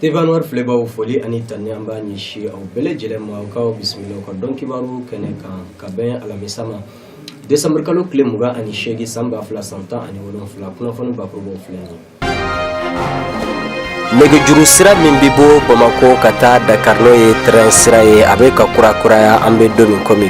TV Anwar filɛbaw foli ani tanuni an b'a ɲɛsin aw bɛɛ lajɛlen ma k'aw bisimila ka don kibaru kɛnɛ kan ka bɛn alamisa ma desanburu kalo tile mugan ani seegin san ba fila san tan ani wolonfila kunnafoni bakurubaw filɛ nin nɛgɛjuru sira min bɛ bɔ bamakɔ ka taa dakari n'o ye train sira ye a bɛ ka kuraya an bɛ don min kɔmi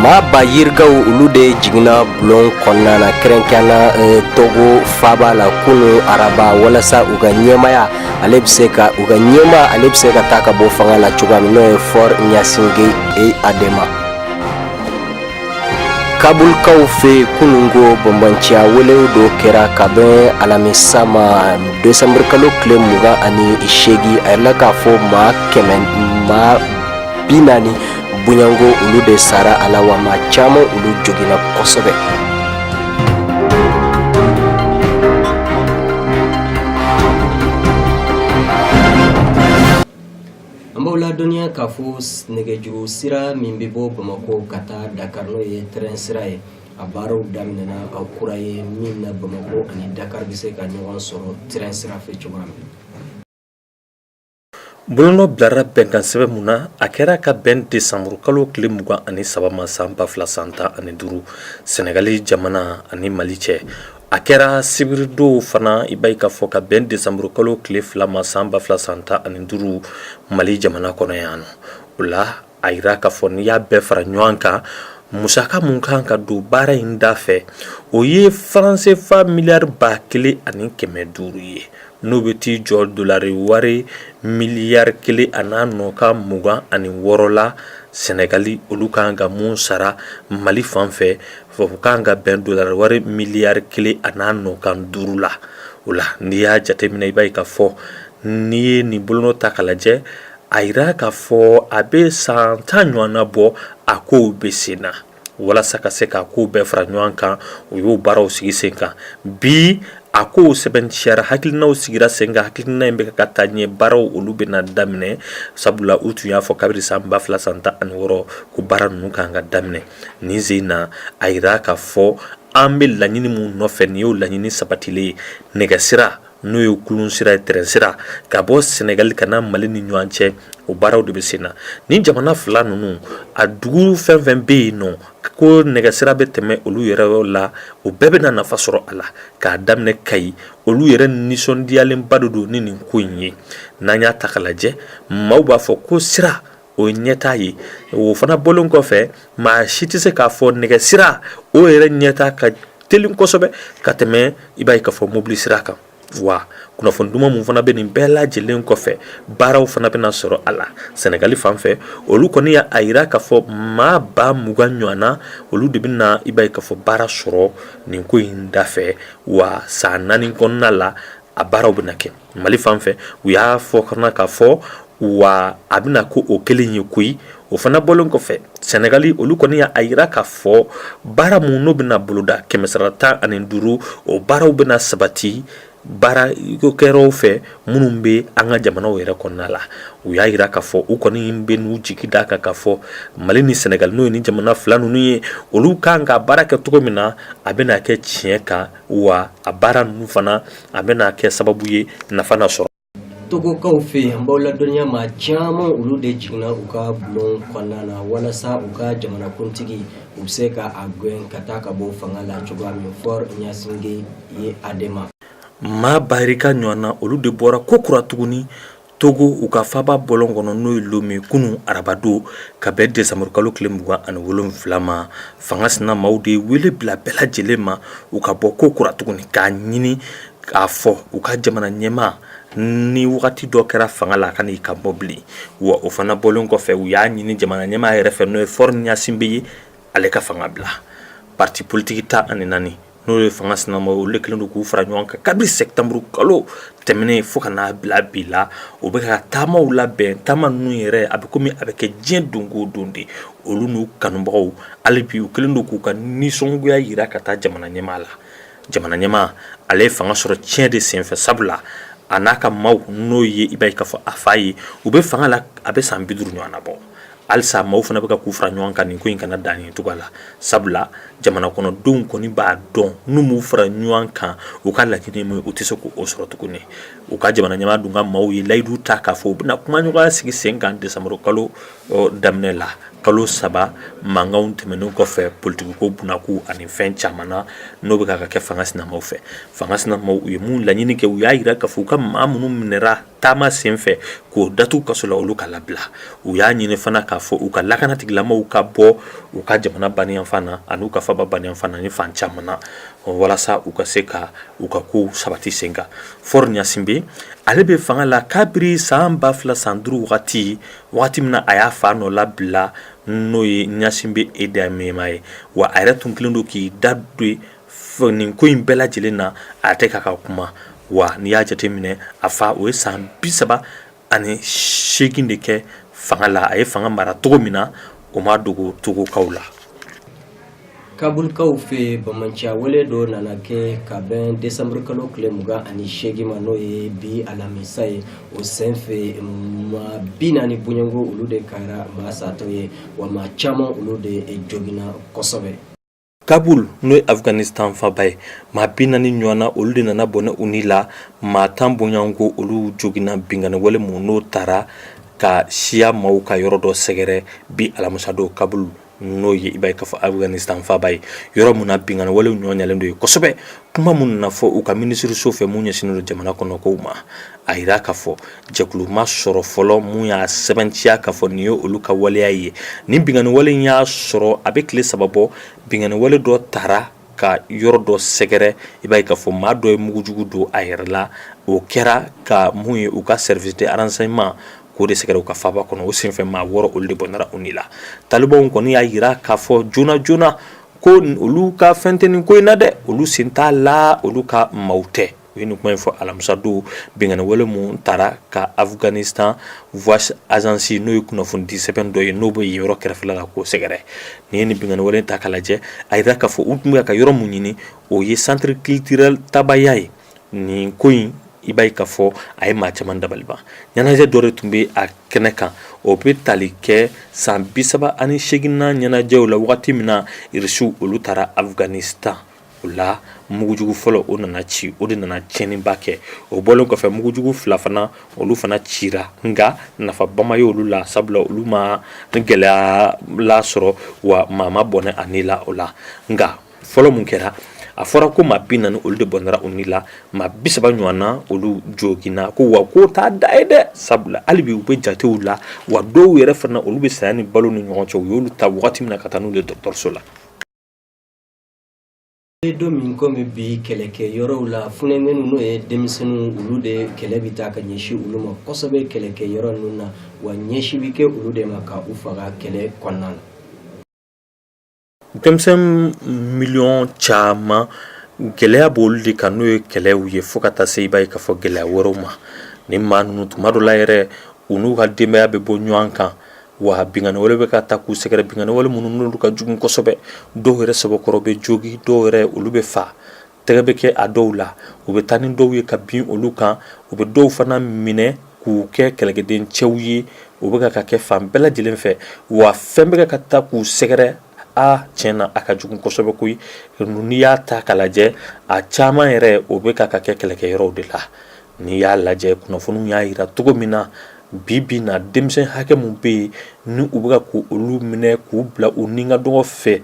Maa ba yirikaw olu de jiginna bɔlɔn kɔnɔna na kɛrɛnkɛrɛn na eh, Togo faaba la kunun araba walasa u ka ɲɛmaya ale bɛ se ka u ka ɲɛmaa ale bɛ se ka taa ka bɔ fanga la cogoya min n'o ye Faure Gnassingbé Eyadema kabulkaw fɛ kununko banbaanciya walew dɔ kɛra ka bɛn alamisa ma desanburukalo tile mugan ani seegin a yira k'a fɔ maa kɛmɛ maa bi naani bɔɲɔgɔnko olu de sara a la wa maa caman olu joginna kosɛbɛ An b'aw ladɔniya k'a fɔ nɛgɛjuru sira min bɛ bɔ Bamakɔ ka taa Dakar n'o ye train sira ye, a baaraw daminɛna, a kura ye min na Bamakɔ ani Dakar bɛ se ka ɲɔgɔn sɔrɔ train sira fɛ cogoya min na. Bolonɔ bilara bɛnkan sɛbɛn mun na, a kɛra ka bɛn décembre kalo tile mugan ani saba ma san ba fila san tan ani duuru Senegali jamana ani Mali cɛ. A kɛra sibiridon fana i b'a ye k'a fɔ ka bɛn desanburukalo tile fila ma san ba fila san tan ani duuru mali jamana kɔnɔ yan nɔ o la a jira k'a fɔ n'i y'a bɛɛ fara ɲɔgɔn kan musaka mun kan ka don baara in da fɛ o ye faran sefa miliyari ba kelen ani kɛmɛ duuru ye n'o bɛ t'i jɔ dolari wari miliyari kelen a n'a nɔkan mugan ani wɔɔrɔ la sɛnɛgali olu kan ka mun sara mali fan fɛ O kan ka bɛn dolari wari miliyari kelen a n'a nɔkan duuru la o la n'i y'a jateminɛ i b'a ye k'a fɔ n'i ye nin bolonɔ ta ka lajɛ a jira k'a fɔ a bɛ san tan ɲɔgɔn na bɔ a ko bɛ sen na walasa ka se k'a kow bɛɛ fara ɲɔgɔn kan o y'o baaraw sigi sen kan bi a ko sɛbɛntiyara hakilinaw sigira sen kan hakilina in bɛ ka taa ɲɛ baaraw olu bɛ na daminɛ sabula u tun y'a fɔ kabiri san ba fila san tan ani wɔɔrɔ ko baara ninnu ka kan ka daminɛ Nin sen in na a jira k'a fɔ an bɛ laɲini mun nɔfɛ nin y'o laɲini sabatilen ye nɛgɛsira n'o ye kulun sira ye train sira ka bɔ Senegali ka na Mali ni ɲɔgɔn cɛ o baaraw de bɛ sen na nin jamana fila ninnu a dugu fɛn o fɛn bɛ yen nɔ ko nɛgɛsira bɛ tɛmɛ olu yɔrɔ la o bɛɛ bɛna nafa sɔrɔ a la k'a daminɛ Kayi olu yɛrɛ nisɔndiyalenba de don ni nin ko in ye n'an y'a ta ka lajɛ maaw b'a fɔ ko sira o ye ɲɛta ye o fana bɔlen kɔfɛ maa si tɛ se k'a fɔ nɛgɛsira o yɛrɛ ɲɛta ka teli kosɛbɛ ka tɛmɛ i b'a ye ka fɔ mobili sira kan wa kunnafoni duman min fana bɛ nin bɛɛ lajɛlen kɔfɛ baaraw fana bɛna sɔrɔ a la sɛnɛgali fan fɛ olu kɔni y'a a jira k'a fɔ maa ba mugan ɲɔgɔn na olu de bɛna i b'a ye ka fɔ baara sɔrɔ nin ko in da fɛ wa san naani kɔnɔna la a baaraw bɛna kɛ Mali fan fɛ u y'a fɔ fana ka fɔ wa a bɛna kɛ o kelen ye koyi o fana bɔlen kɔfɛ sɛnɛgali olu kɔni y'a jira ka fɔ baara minnu n'u bɛna boloda kɛmɛsara tan ani duuru o baaraw bɛna sabati baarakɛyɔrɔw fɛ minnu bɛ an ka jamanaw yɛrɛ kɔnɔna la u y'a jira ka fɔ u kɔni bɛ n'u jigi da kan ka fɔ mali ni sɛnɛgali n'o ye nin jamana fila ninnu ye olu ka kan ka baara kɛ cogo min na a bɛna kɛ tiɲɛ kan wa a baara ninnu fana a bɛna kɛ sababu ye nafa na sɔrɔ togokaw fɛ yen an b'aw ladɔnniya maa caman olu de jiginna u ka bɔlɔn kɔnɔna na walasa u ka jamanakuntigi u bɛ se ka a gɛn ka taa ka bɔ fanga la cogoya min fɔri ɲasinbe eyadema maa ba yirika ɲɔgɔn na olu de bɔra kokura tuguni Togo u ka faaba bɔlɔn kɔnɔ n'o ye lome kunun arabadon ka bɛn desanburukalo tile mugan ani wolonfila ma fanga sinamaw de wele bila bɛɛ lajɛlen ma u ka bɔ kokura tuguni k'a ɲini k'a fɔ u ka jamana ɲɛmaa ni wagati dɔ kɛra fanga la kan'i kanbɔ bilen wa o fana bɔlen kɔfɛ u y'a ɲini jamana ɲɛmaa yɛrɛ fɛ n'o ye fɔri ɲasinbe ye ale ka fanga bila pariti politiki tan ani naani n'o ye fanga sinamaw olu de kɛlen don k'u fara ɲɔgɔn kan kabiri sɛtanburu kalo tɛmɛnen fo ka n'a bila bi la o bɛ ka taamaw labɛn taama ninnu yɛrɛ a bɛ kɔmi a bɛ kɛ diɲɛ don go don de olu n'u kanubagaw hali bi u kɛlen don k'u ka nisɔngoya jira ka taa jamana ɲɛmaa la jamana ɲɛmaa ale ye fanga sɔrɔ tiɲɛ de senfɛ sabula a n'a ka maaw n'o ye i b'a ye k'a fɔ a fa ye u bɛ fanga la a bɛ san bi duuru ɲɔgɔn na bɔ halisa maaw fana bɛ ka k'u fara ɲɔgɔn kan nin ko in kana dan nin cogoya la sabula jamana kɔnɔdenw kɔni b'a dɔn n'u m'u fara ɲɔgɔn kan u ka laɲini min u tɛ se k'o sɔrɔ tuguni u ka jamana ɲɛmaa dun ka maaw ye layidu ta k'a fɔ u bɛna kumaɲɔgɔnya sigi sen kan desanburu kalo daminɛ la kalo saba mankanw tɛmɛnen kɔfɛ politikiko bunakun ani fɛn caman na n'o bɛ ka kɛ fanga sinamaw fɛ fanga sinamaw u ye mun laɲini kɛ u y'a jira k'a fɔ u ka maa minnu minɛra taama sen fɛ k'o datugu kaso la olu ka labila u y'a ɲini fana k'a fɔ u ka lakanatigilamaw ka bɔ u ka jamana baniyanfan na ani u ka faaba baniyanfan na ni fan caman na walasa u ka se ka u ka kow sabati sen kan fɔri ɲasinbe ale bɛ fanga la kabiri san ba fila san duuru wagati wagati min na a y'a fa nɔ labila n'o ye ɲasinbe eyadema ye wa a yɛrɛ tun kɛlen don k'i da don nin ko in bɛɛ lajɛlen na a tɛ ka ka kuma wa n'i y'a jateminɛ a fa o ye san bi saba ani seegin de kɛ fanga la a ye fanga mara cogo min na o ma dogo togokaw la kabulkaw fɛ bamanciya wale dɔ nana kɛ ka bɛn desanburu kalo tile mugan ani seegin ma n'o ye bi alamisa ye o senfɛ maa bi naani bɔɲɔgɔnko olu de kɛra maa satɔ ye wa maa caman olu de joginna kosɛbɛ kabul n'o ye afghanistan faaba ye maa bi naani ɲɔgɔn na olu de nana bɔnɛ u ni la maa tan bɔɲɔgɔnko olu joginna binkanni wale min n'o taara ka siya maaw ka yɔrɔ dɔ sɛgɛrɛ bi alamisadon kabul n'o ye i b'a ye k'a fɔ afghanistan faaba ye yɔrɔ min na binkanni walew nɔgɔyalen don yen kosɛbɛ kuma min nana fɔ u ka minisiriso fɛ min ɲɛsinnen don jamana kɔnɔkow ma a jira k'a fɔ jɛkulu ma sɔrɔ fɔlɔ min y'a sɛbɛntiya k'a fɔ nin ye olu ka waleya ye nin binkanni wale in y'a sɔrɔ a bɛ tile saba bɔ binkanni wale dɔ taara ka yɔrɔ dɔ sɛgɛrɛ i b'a ye k'a fɔ maa dɔ ye mugujugu don a yɛrɛ la o kɛra ka mun ye u ka service de renseignement k'o de sɛgɛrɛ u ka faaba kɔnɔ o senfɛ maa wɔɔrɔ olu de bɔnɛra u ni la talibanw kɔni y'a jira k'a fɔ joona joona ko olu ka fɛn tɛ nin ko in na dɛ olu sen t'a la olu ka maaw tɛ U ye nin kuma in fɔ alamisa don binkanni wale min taara ka Afganistan voice agence n'o ye kunnafonidi sɛbɛn dɔ ye n'o bɛ yen yɔrɔ kɛrɛfɛla la k'o sɛgɛrɛ, n'i ye nin binkanni wale in ta k'a lajɛ a jira k'a fɔ u tun bɛ ka yɔrɔ min ɲini o ye centre culturel Tabaya ye nin ko in i b'a ye k'a fɔ a ye maa caman dabali ban ɲɛnajɛ dɔ de tun bɛ a kɛnɛ kan o bɛ tali kɛ san bi saba ani seeginnan ɲɛnajɛw la wagati min na Irisiw olu taara Afganistan o la mugujugu fɔlɔ o nana ci o de nana tiɲɛniba kɛ o bɔlen kɔfɛ mugujugu fila fana olu fana cira nka nafaba ma ye olu la sabula olu ma gɛlɛya la sɔrɔ wa maa ma bɔnɛ a ni la o la nka fɔlɔ min kɛra a fɔra ko maa bi naani olu de bɔnɛra u ni la maa bi saba ɲɔgɔn na olu joginna ko wa k'o t'a dan ye dɛ sabula hali bi u bɛ jatew la wa dɔw yɛrɛ fana olu bɛ saya ni balo ni ɲɔgɔn cɛ u y'olu ta wagati min na ka taa n'u ye dɔgɔtɔrɔso la ye don min komi bi kɛlɛkɛ yɔrɔw la funankɛninw n'o ye denmisɛnninw olu de kɛlɛ bɛ taa ka ɲɛsin olu ma kosɛbɛ kɛlɛkɛ yɔrɔ ninnu na wa ɲɛsin bɛ kɛ olu de ma ka u faga kɛlɛ kɔnɔna na denmisɛnnin miliyɔn caman gɛlɛya b'olu de kan n'o ye kɛlɛw ye fo ka taa se i b'a ye k'a fɔ gɛlɛya wɛrɛw ma ni maa ninnu tuma dɔ la yɛrɛ u n'u ka denbaya bɛ bɔ ɲɔgɔn kan wa binkanni wale bɛ ka taa k'u sɛgɛrɛ binkanni wale minnu n'olu ka jugu kosɛbɛ dɔw yɛrɛ sɛbɛkɔrɔ bɛ jogin dɔw yɛrɛ olu bɛ faa tɛgɛ bɛ kɛ a dɔw la u bɛ taa ni dɔw ye ka bin olu kan u bɛ dɔw fana minɛ k'u kɛ kɛlɛkɛden cɛw ye o bɛ ka ka kɛ fan bɛɛ lajɛlen fɛ wa fɛn bɛ ka ka taa k'u sɛgɛrɛ a tiɲɛ na a ka jugu kosɛbɛ koyi n'i y'a ta k'a lajɛ a caman yɛrɛ o bɛ ka ka kɛ kɛlɛkɛyɔrɔw de la n'i y'a lajɛ kunnafoniw y'a jira cogo min na Bi bi na denmisɛn hakɛ min bɛ yen ni u bɛ ka k'olu minɛ k'u bila u ni ka dɔgɔ fɛ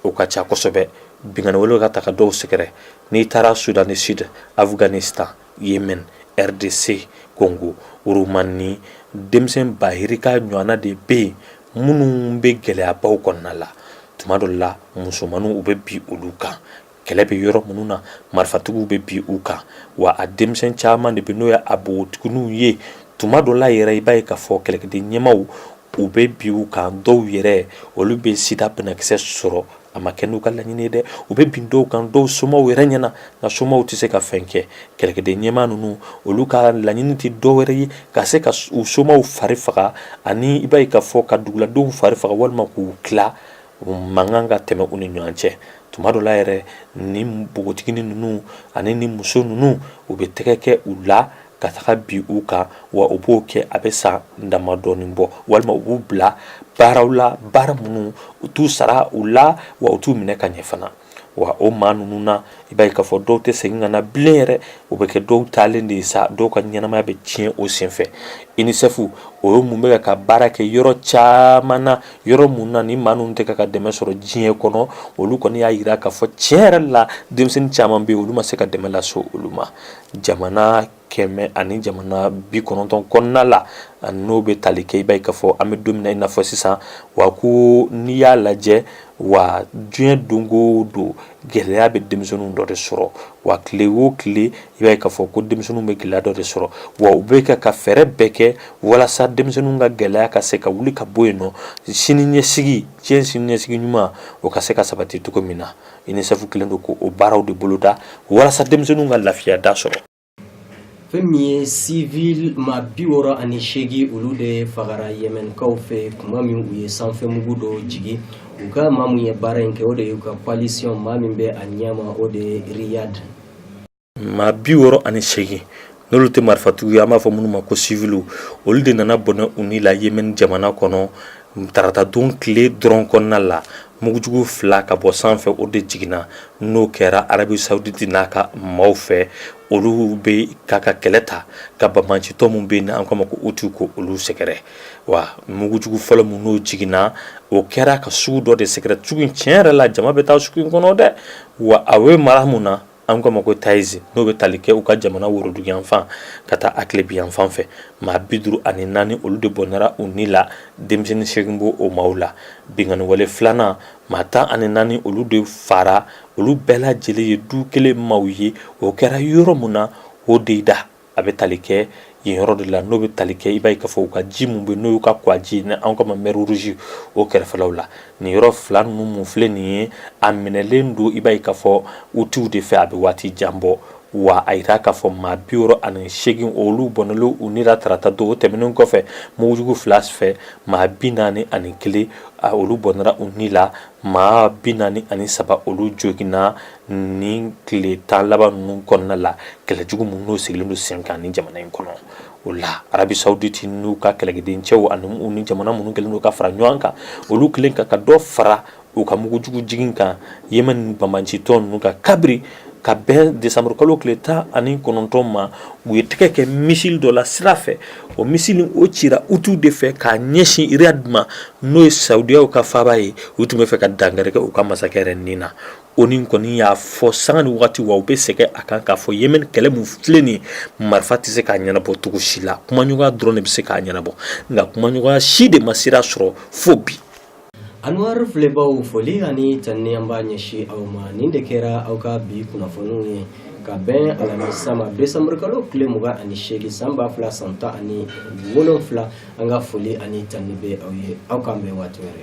o ka ca kosɛbɛ binkanni wale ka taga dɔw sɛgɛrɛ n'i taara Soudan du Sud Afghanistan Yémen RDC Congo Roumanie denmisɛn ba yirika ɲɔgɔnna de bɛ yen minnu bɛ gɛlɛyabaw kɔnɔna la tuma dɔ la musomanninw u bɛ bin olu kan kɛlɛ bɛ yɔrɔ minnu na marifatigiw bɛ bin u kan wa a denmisɛn caman de bɛ n'o ye a npogotigininw ye tuma dɔ la yɛrɛ i b'a ye k'a fɔ kɛlɛkɛden ɲɛmaaw u bɛ bin u kan dɔw yɛrɛ olu bɛ sida banakisɛ sɔrɔ a ma kɛ n'u ka laɲini ye dɛ u bɛ bin dɔw kan dɔw somaw yɛrɛ ɲɛ na nka somaw tɛ se ka fɛn kɛ kɛlɛkɛden ɲɛmaa ninnu olu ka laɲini tɛ dɔ wɛrɛ ye ka se ka u somaw fari faga ani i b'a ye k'a fɔ ka duguladenw fari faga walima k'u tila mankan ka tɛmɛ u ni ɲɔgɔn cɛ tuma dɔ la yɛrɛ ni npogotiginin ninnu ani ni muso ninnu u bɛ tɛgɛ kɛ u la ka taga bin u kan wa u b'o kɛ a bɛ san damadɔnin bɔ walima u b'u bila baaraw la baara minnu u t'u sara u la wa u t'u minɛ ka ɲɛ fana wa o maa ninnu na i b'a ye k'a fɔ dɔw tɛ segin ka na bilen yɛrɛ o bɛ kɛ dɔw taalen de ye sa dɔw ka ɲɛnamaya bɛ tiɲɛ o senfɛ unicef o ye min bɛ ka ka baara kɛ yɔrɔ caman na yɔrɔ min na ni maa ninnu tɛ ka ka dɛmɛ sɔrɔ diɲɛ kɔnɔ olu kɔni y'a jira k'a fɔ tiɲɛ yɛrɛ la denmisɛnnin caman bɛ yen olu ma se ka dɛmɛ lase olu ma jamana kɛmɛ ani jamana bi kɔnɔntɔn kɔnɔna la n'o bɛ tali kɛ i b'a ye k'a fɔ an bɛ don min na i n'a fɔ sisan wa ko n'i y'a lajɛ wa diɲɛ don o don gɛlɛya bɛ denmisɛnninw dɔ de sɔrɔ wa tile o tile i b'a ye k'a fɔ ko denmisɛnninw bɛ gɛlɛya dɔ de sɔrɔ wa u bɛ ka ka fɛɛrɛ bɛɛ kɛ walasa denmisɛnninw ka gɛlɛya ka se ka wuli ka bɔ yen nɔ sini ɲɛsigi cɛ sini ɲɛsigi ɲuman o ka se ka sabati cogo min na unicef kɛlen don k'o baaraw de boloda walasa denmisɛnninw ka lafiya da sɔrɔ fɛn min ye civil maa bi wɔɔrɔ ani seegin olu de fagara yemenkaw fɛ tuma min u ye sanfɛmugu dɔ jigin u kan maa min ye baara in kɛ o de y'u ka coalition maa min bɛ a ɲɛma o de ye riyad maa bi wɔɔrɔ ani seegin n'olu tɛ marifatigiw ye an b'a fɔ minnu ma ko siviliw olu de nana bɔnɛ u ni la yemɛni jamana kɔnɔ taratadon tile dɔrɔn kɔnɔna la mugujugu fila ka bɔ sanfɛ o de jiginna n'o kɛra arabi sawuditi n'a ka maaw fɛ olu bɛ k'a ka kɛlɛ ta ka banbaancitɔ min bɛ yen n'an k'a ma ko uti ko olu sɛgɛrɛ wa mugujugu fɔlɔ min n'o jiginna o kɛra ka sugu dɔ de sɛgɛrɛ sugu in tiɲɛ yɛrɛ la jama bɛ taa sugu in kɔnɔ dɛ wa a bɛ mara mun na An k'a ma ko Tayizi n'o bɛ tali kɛ u ka jamana woroduguyanfan ka taa a tilebinyanfan fɛ, maa 54 olu de bɔnɛra u ni la, denmisɛnnin 8 b'o o maaw la, binkanniwale 2 nan, maa 14 olu de fagara, olu bɛɛ lajɛlen ye du kelen maaw ye, o kɛra yɔrɔ min na Hodeidah. a bɛ tali kɛ yen yɔrɔ de la n'o bɛ tali kɛ i b'a ye k'a fɔ u ka ji min bɛ n'o y'u ka kɔgɔji ni an k'a ma mɛri ruzi o kɛrɛfɛlaw la nin yɔrɔ fila ninnu minnu filɛ nin ye a minɛlen don i b'a ye k'a fɔ utiw de fɛ a bɛ waati jan bɔ wa a jira k'a fɔ maa bi wɔɔrɔ ani seegin olu bɔnɛlen u ni la tarata don o tɛmɛnen kɔfɛ mugujugu fila fɛ maa bi naani ani kelen olu bɔnɛra u ni la maa bi naani ani saba olu joginna Nin tile tan laban ninnu kɔnɔna la kɛlɛjugu min n'o sigilen don sen kan nin jamana in kɔnɔ o la arabi sawuditi n'u ka kɛlɛkɛden cɛw ani u ni jamana minnu kɛlen don ka fara ɲɔgɔn kan olu kɛlen ka dɔ fara u ka mugujugu jigin kan yemɛni banbaancitɔ ninnu kan kabiri ka bɛn desanburu kalo tile tan ani kɔnɔntɔn ma u ye tɛgɛ kɛ misili dɔ la sira fɛ o misili in o cira utiw de fɛ k'a ɲɛsin riyadi ma n'o ye sawudiya ka faaba ye u tun bɛ fɛ ka dankari kɛ u ka masakɛ yɛrɛ nin na Oni kɔni y'a fɔ sanga ni waati wa u bɛ segin a kan k'a fɔ yemɛni kɛlɛ min filɛ nin marifa tɛ se k'a ɲɛnabɔ cogo si la kumaɲɔgɔnya dɔrɔn de bɛ se k'a ɲɛnabɔ nka kumaɲɔgɔnya si de ma sira sɔrɔ fo bi anw filɛbaw foli ani tanni an b'a ɲɛsin aw ma nin de kɛra aw ka bi kunnafoniw ye ka bɛn alamisa ma desanburukalo tile mugan ani seegin san ba fila san tan ani wolonfila an ka foli ani tanni bɛ aw ye aw k'an bɛn waati wɛrɛ